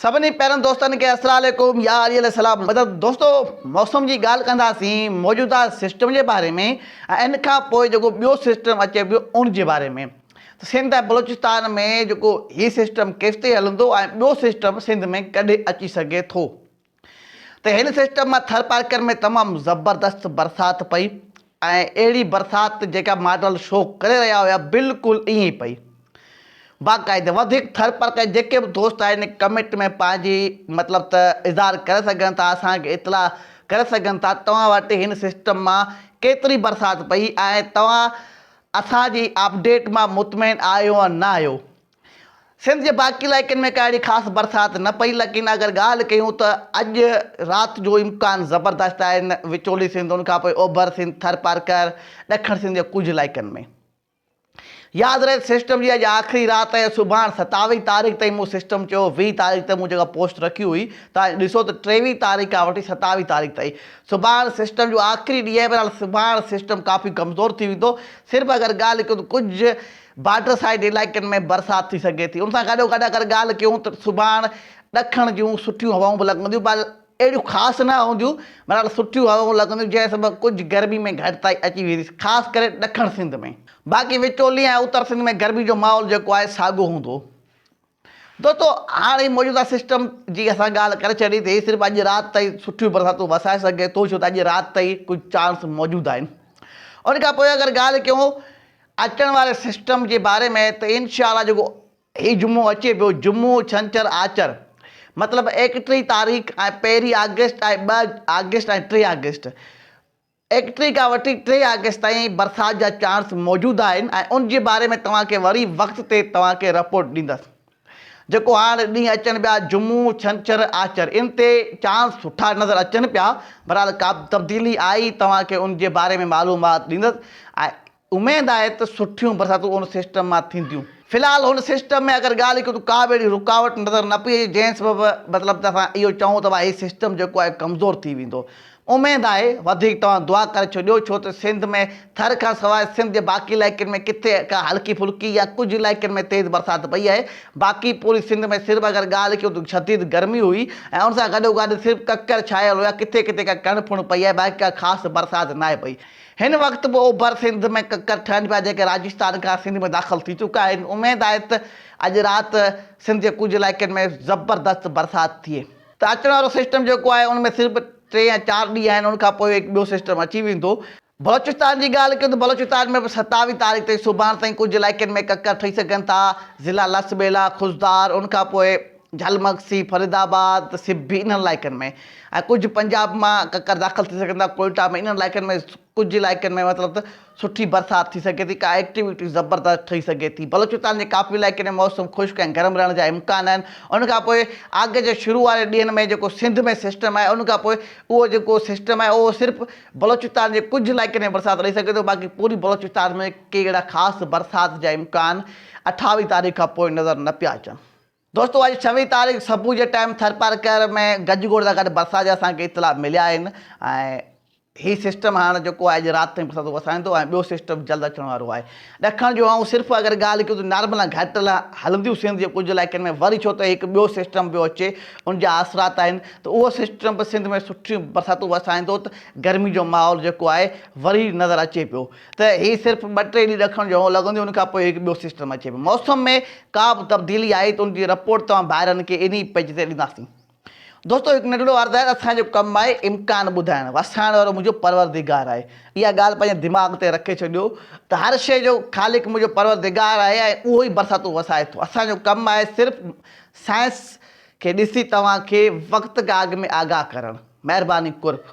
سڀني پيارن دوستن کي السلام عليڪم يا علي عليه السلام مدد دوستو موسم جي ڳالهه ڪنداسين موجوده سسٽم جي باري ۾ ۽ ان کان پوء جيڪو ٻيو سسٽم اچي پيو ان جي باري ۾ ته سنڌ ۽ بلوچستان ۾ جيڪو هي سسٽم ڪيستائين هلندو ۽ ٻيو سسٽم سنڌ ۾ ڪڏهن اچي سگهي ٿو ته هن سسٽم مان ٿرپارڪر ۾ تمام زبردست برسات پئي ۽ اهڙي برسات جيڪا ماڊل شو ڪري رهيا هيا بلڪل ائين ئي پئي باقاعده وڌيڪ ٿرپارڪر جيڪي به دوست آهن ڪمينٽ ۾ پنهنجي مطلب ته اظهار ڪري سگهن ٿا اسان کي اطلاع ڪري سگهن ٿا توهان وٽ هن سسٽم مان ڪيتري برسات پئي ۽ توهان اسان جي اپڊيٽ مان مطمئن آهيو نه آهيو سنڌ جي باقي علائقن ۾ ڪا اهڙي خاص برسات نه پئي ليڪن اگر ڳالهه ڪيون ته اڄ رات جو امڪان زبردست آهن وچولي سنڌ ان کان پوء اوڀر سنڌ ٿرپارڪر ڏکڻ سنڌ جي ڪجهه علائقن ۾ ياد رهي سسٽم جي اڄ آخري رات ۽ سڀاڻ ستاويهه تاريخ تائين مون سسٽم چيو ويهه تاريخ تي مون جيڪا پوسٽ رکي هئي توهان ڏسو ته ٽيويهه تاريخ کان وٺي ستاويهه تاريخ تائين سڀاڻ سسٽم جو آخري ڏينهن آهي بهرحال سڀاڻ سسٽم ڪافي ڪمزور ٿي ويندو صرف اگر ڳالهه ڪيون ته ڪجهه بارڊر سائيڊ علائقن ۾ برسات ٿي سگهي ٿي، ان سان گڏو گڏ اگر ڳالهه ڪيون ته سڀاڻ ڏکڻ جون سٺيون هوائون به لڳنديون پر اهڙيون خاص نه هونديون، بهرحال سٺيون هوائون لڳنديون جنهن سبب ڪجهه گرمي ۾ گهٽتائي اچي ويندي خاص ڪري ڏکڻ سنڌ ۾، باقي وچولي ۽ اتر سنڌ ۾ گرمي جو ماحول جيڪو آهي ساڳيو هوندو. دوستو هاڻ هي موجوده سسٽم جي اسان ڳالهه ڪري ڇڏي ته هي صرف اڄ رات تائين سٺيون برساتون وسائي سگهي ٿو ڇو ته اڄ رات تائين ڪجهه چانس موجود آهن ان کان پوء اگر ڳالهه ڪيون اچڻ واري سسٽم جي باري ۾ ته انشاء الله جيڪو هي جمعو اچي پيو جمعو ڇنڇر آچر مطلب ايڪٽيهه تاريخ ۽ پهرين آگسٽ ۽ ٻه آگسٽ ۽ ٽي آگسٽ ايڪ ٽي کان وٺي ٽي آگسٽ تائين برسات جا چانس موجود آهن ۽ ان جي باري ۾ توهان کي وري وقت تي توهان کي رپورٽ ڏيندس جيڪو هاڻ ڏينهن اچن پيا جمعو ڇنڇر آچر ان تي چانس سٺا نظر اچن پيا بھرحال ڪابه تبديلي آئي توهان کي ان جي باري ۾ معلومات ڏيندس ۽ اميد آهي ته سٺيون برساتون ان سسٽم مان ٿينديون. في الحال هن سسٽم ۾ اگر ڳالهه ڪيون ته ڪا به اهڙي رڪاوٽ نظر نه پئي اچي جنهن سبب مطلب ته اسان اهو چئون ته ڀاء هي سسٽم جيڪو آهي ڪمزور ٿي ويندو. اميد آهي وڌيڪ توهان دعا ڪري ڇڏيو ڇو ته سنڌ ۾ ٿر کان سواء سنڌ جي باقي علائقن ۾ ڪٿي ڪا هلڪي ڦلڪي يا ڪجهه علائقن ۾ تيز برسات پئي آهي باقي پوري سنڌ ۾ صرف اگر ڳالهه ڪيون ته شديد گرمي هئي ۽ ان سان گڏوگڏ صرف ڪڪر ڇانيل هيا ڪٿي ڪٿي ڪا ڪڻ ڦڻ پئي آهي باقي ڪا خاص برسات ناهي پئي. هن وقت به اوڀر سنڌ ۾ ڪڪر ٺهن پيا جيڪي راجستان کان سنڌ ۾ داخل ٿي چڪا آهن اميد آهي ته اڄ رات سنڌ جي ڪجهه علائقن ۾ زبردست برسات ٿئي ته اچڻ وارو سسٽم جيڪو آهي ان ۾ صرف ٽي يا چار ڏينهن آهن ان کانپوء هڪ ٻيو سسٽم اچي ويندو. بلوچستان جي ڳالهه ڪيون ته بلوچستان ۾ به ستاويهه تاريخ تائين سڀاڻ تائين ڪجهه علائقن ۾ ڪڪر ٺهي سگهن ٿا ضلع لس ٻيلا، خضدار ان کانپوء. جهل مگسي، فريد آباد، سبي انهن علائقن ۾ ۽ ڪجهه پنجاب مان ڪڪر داخل ٿي سگهن ٿا ڪوئيٽا ۾ انهن علائقن ۾ ڪجهه علائقن ۾ مطلب ته سٺي برسات ٿي سگهي ٿي ڪا ايڪٽيوٽي زبردست ٺهي سگهي ٿي بلوچستان جي ڪافي علائقن ۾ موسم خشڪ ۽ گرم رهڻ جا امڪان آهن ان کان پوء آگسٽ جي شروع واري ڏينهن ۾ جيڪو سنڌ ۾ سسٽم آهي ان کان پوء اهو جيڪو سسٽم آهي اهو صرف بلوچستان جي ڪجهه علائقن ۾ برسات ڏئي سگهي ٿو باقي پوري بلوچستان ۾ ڪي اهڙا خاص برسات جا امڪان اٺاويهه تاريخ کان پوء نظر نه پيا اچن دوستو اڄ ڇويهين تاريخ صبح جي ٽائيم ٿرپارڪر ۾ گج گوڙ سان گڏ برسات جا اسان کي اطلاع مليا آهن ۽ هي سسٽم هاڻ جيڪو آهي اڄ رات تائين برساتون وسائيندو ۽ ٻيو سسٽم جلد اچڻ وارو آهي ڏکڻ جو آئون صرف اگر ڳالهه ڪيون ته نارمل ۽ گهٽ هلنديون سنڌ جي ڪجهه علائقن ۾ وري ڇو ته هڪ ٻيو سسٽم پيو اچي ان جا آثرات آهن ته اهو سسٽم به سنڌ ۾ سٺيون برساتون وسائيندو ته گرمي جو ماحول جيڪو آهي وري نظر اچي پيو ته هي صرف ٻه ٽي ڏينهن ڏکڻ جهڙو لڳنديون ان کان پوء هڪ ٻيو سسٽم اچي پيو موسم ۾ ڪا به تبديلي آئي ته ان جي رپورٽ توهان ڀائرن کي انهي پيج تي ڏينداسين دوستو هڪ ننڍڙو عرض آهي ته اسان جو ڪم آهي امڪان ٻڌائڻ وسائڻ وارو منهنجو پروردگار آهي اها ڳالهه پنهنجي دماغ تي رکي ڇڏيو ته هر شيء جو خالق منهنجو پروردگار آهي ۽ اهو ئي برساتون وسائي ٿو اسان جو ڪم آهي صرف سائنس کي ڏسي توهان کي وقت کان اڳ ۾ آگاهه ڪرڻ مهرباني قرب.